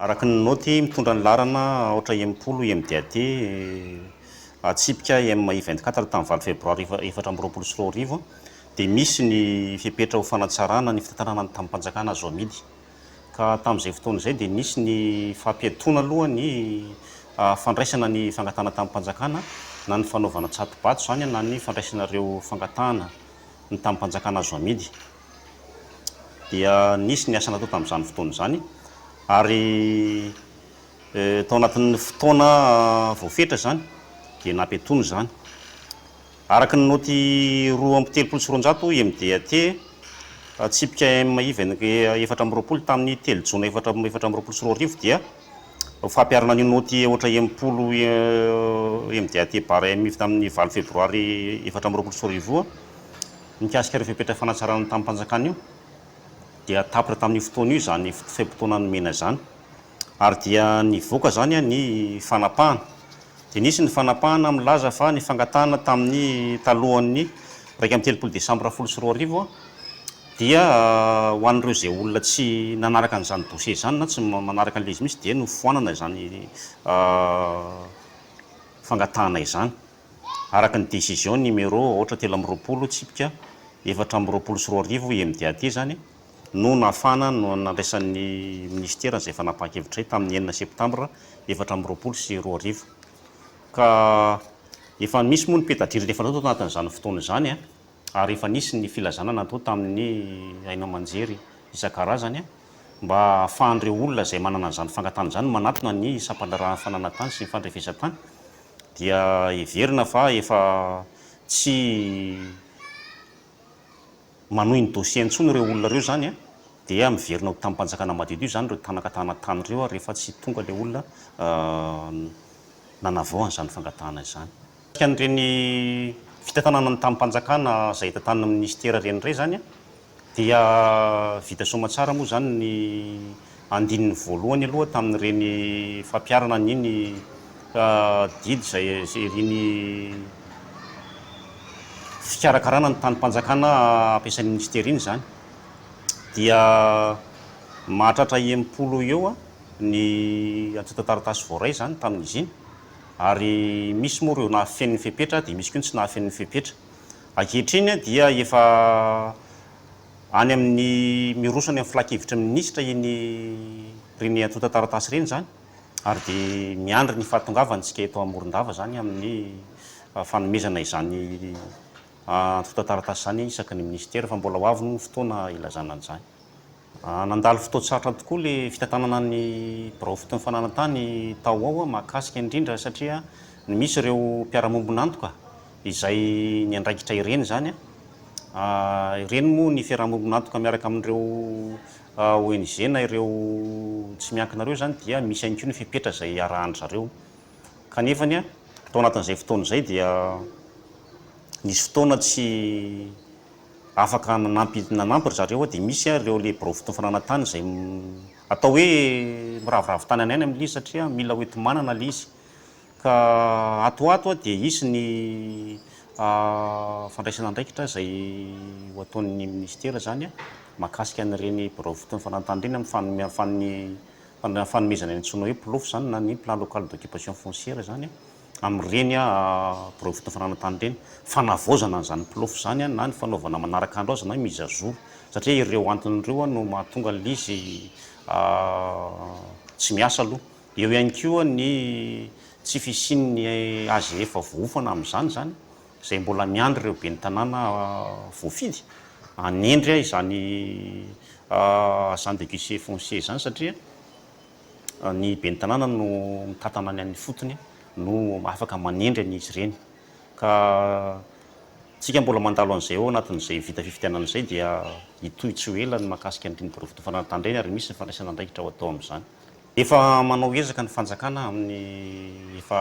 Araka ny naoty mitondra ny laharana aotra enimpolo IMDAD, atsipika IM I vingt quatre tamin'ny valo febroary efatra amby roapolo sy roa arivo, dia misy ny fepetra ho fanatsarana ny fitantanana ny tambim-panjakana azo amidy. Ka tamin'izay fotoana izay dia nisy ny fampiatoana aloha ny fandraisana ny fangatahana tambim-panjakana na ny fanaovana tsato-bato izany na ny fandraisana ireo fangatahana ny tambim-panjakana azo amidy. dia nisy ny asa natao tamin'izany fotoana izany ary tao anatin'ny fotoana voafetra izany dia nampiatoana izany. Araka ny naoty roa amby telopolo sy roanjato IMDAT, tsipika M iv efatra amby roapolo tamin'ny telo jona efatra efatra amby roapolo sy roa arivo dia ho fampiharana an'io naoty aotra enimpolo IMDAT bar M iv tamin'ny valo febroary efatra amby roapolo sy roa arivo io. Mikasika ireo fepetra fanatsarana ny tamim-panjakana io dia tapitra tamin'io fotoana io izany fe-potoana nomena izany ary dia nivoaka izany ny fanapahana. Dia nisy ny fanapahana milaza fa ny fangatahana tamin'ny talohan'ny iraika amby telopolo desambra folo sy roa arivo dia ho an'ireo izay olona tsy nanaraka an'izany dossier izany na tsy manaraka an'ilay izy mihitsy dia nofoanana izany fangatahana izany. araka ny décision numéro aotra telo amby roapolo tsipika efatra amby roapolo sy roa arivo IMDAD izany no nahafahana nandraisan'ny Minisitera izay fanapahan-kevitra izay tamin'ny enina septambra efatra amby roapolo sy roa arivo ka efa misy moa ny peta-drindrina efa natao tao anatin'izany fotoana izany ary efa nisy ny filazana natao tamin'ny haino aman-jery isan-karazany mba hahafahan'ireo olona izay manana an'izany fangatahana izany manatona ny sampan-draharahan'ny fananantany sy ny fandrefesan-tany dia heverina fa efa tsy manohy ny dossier intsony ireo olona ireo izany dia miverina ho tamim-panjakana madiodio izany ireo tanakatana tany ireo rehefa tsy tonga ilay olona nanavao an'izany fangatahana izany. An'ireny fitantanana ny tamim-panjakana izay hita tany amin'ny minisitera ireny indray izany Dia vita soamatsara moa izany ny andininy voalohany aloha tamin'ireny fampiharana an'iny didy izay iriny fikarakarana ny tanim-panjakana ampiasain'ny Minisitera iny izany. Dia mahatratra enimpolo eo ny antontan-taratasy voaray izany tamin'izy iny, ary misy moa ireo nahafeno ny fepetra dia misy koa ny tsy nahafeno ny fepetra. Ankehitriny dia efa any amin'ny miroso any amin'ny filankevitry ny minisitra iny ireny antontan-taratasy ireny izany ary dia miandry ny fahatongavantsika eto Morondava izany amin'ny fanomezana izany antontan-taratasy izany isaky ny minisitera fa mbola ho avy ny fotoana hilazana an'izany. Nandalo fotoan-tsarotra tokoa le fitantanana ny birao foton'ny fananan-tany tao ao mahakasika indrindra satria ny misy ireo mpiara-mombon'antoka izay niandraikitra ireny izany. Ireny moa ny fiaraha-mombon'antoka miaraka amin'ireo ONG na ireo tsy miankina ireo izany dia misy ihany koa ny fepetra izay iarahan-dry zareo kanefany tao anatin'izay fotoana izay dia nisy fotoana tsy Afaka nanampy nanampy ry zareo dia misy ary ireo le biraofotoa fananantany izay atao hoe miraviravy tany an'aina mily izy satria mila ho enti-manana le izy ka ato ho ato dia hisy ny fandraisana andraikitra izay ho ataon'ny minisitera izany mahakasika an'ireny biraofotoa fananantany ireny amin'ny fanome fanomezana ny antsoina hoe ploof izany na ny plan local d'occupation foncière izany amin'ireny birao fitafarana tany ireny, fanavaozana an'izany plofo izany na ny fanaovana manaraka andro azy na mise à jour satria ireo antony ireo no mahatonga an'ilay izy tsy miasa aloha. Eo ihany koa ny tsy fisian'ny AGF voaofana amin'izany izany izay mbola miandry ireo ben'ny tanàna voafidy hanendry izany agent de guichet foncier izany satria ny ben'ny tanàna no mitantana ny an'ny fotony no afaka manendry an'izy ireny ka isika mbola mandalo an'izay ao anatin'izay vita fifidianana izay dia hitohy tsy ho ela ny mahakasika ny riniby rofidy fananan-tandreny ary misy ny fandraisana andraikitra ho atao amin'izany. Efa manao ezaka ny fanjakana amin'ny efa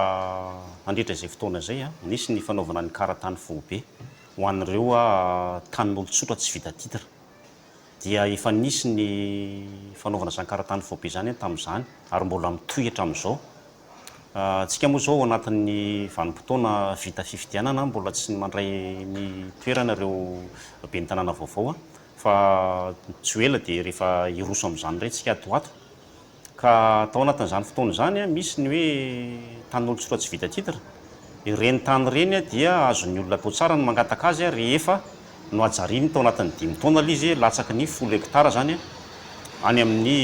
nandritra izay fotoana izay, nisy ny fanaovana ny karatany foibe ho an'ireo tanin'olon-tsotra tsy vita titre, dia efa nisy ny fanaovana zankarantany foibe izany tamin'izany ary mbola mitohy hatramin'izao. Isika moa izao ao anatin'ny vanim-potoana vita fifidianana, mbola tsy mandray ny toerana ireo ben'ny tanàna vaovao fa tsy ho ela dia rehefa hiroso amin'izany indray isika ato ho ato. Ka tao anatin'izany fotoana izany, misy ny hoe tanin'olon-tsotra tsy vita titre. Ireny tany ireny dia azon'ny olona atao tsara ny mangataka azy rehefa nohajariany tao anatin'ny dimy taona ilay izy, latsaky ny folo hekitara izany, any amin'ny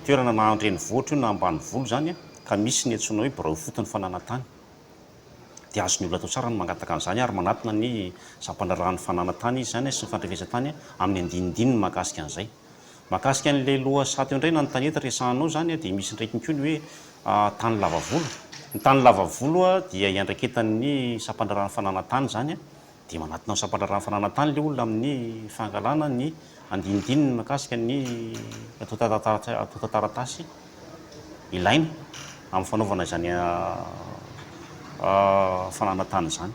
toerana na an-drenivohitra io na ambanivolo izany, ka misy ny antsoina hoe birao ifotony fananantany. Dia azon'ny olona atao tsara ny mangataka an'izany ary manatona ny sampandraharahan'ny fananantany izy izany sy ny fandrefesan-tany amin'ny andinindininy mahakasika an'izay. Mahakasika an'ilay loha sato indray na ny tanety resahanao izany dia misy ndraikiny koa ny hoe tany lava volo. Ny tany lava volo dia iandraiketan'ny sampan-draharahan'ny fananan-tany izany dia manatona ny sampan-draharahan'ny fananan-tany ilay olona amin'ny fangalana ny andinindininy mahakasika ny antontan-taratasy. ilaina amin'ny fanaovana izany fananana tany izany.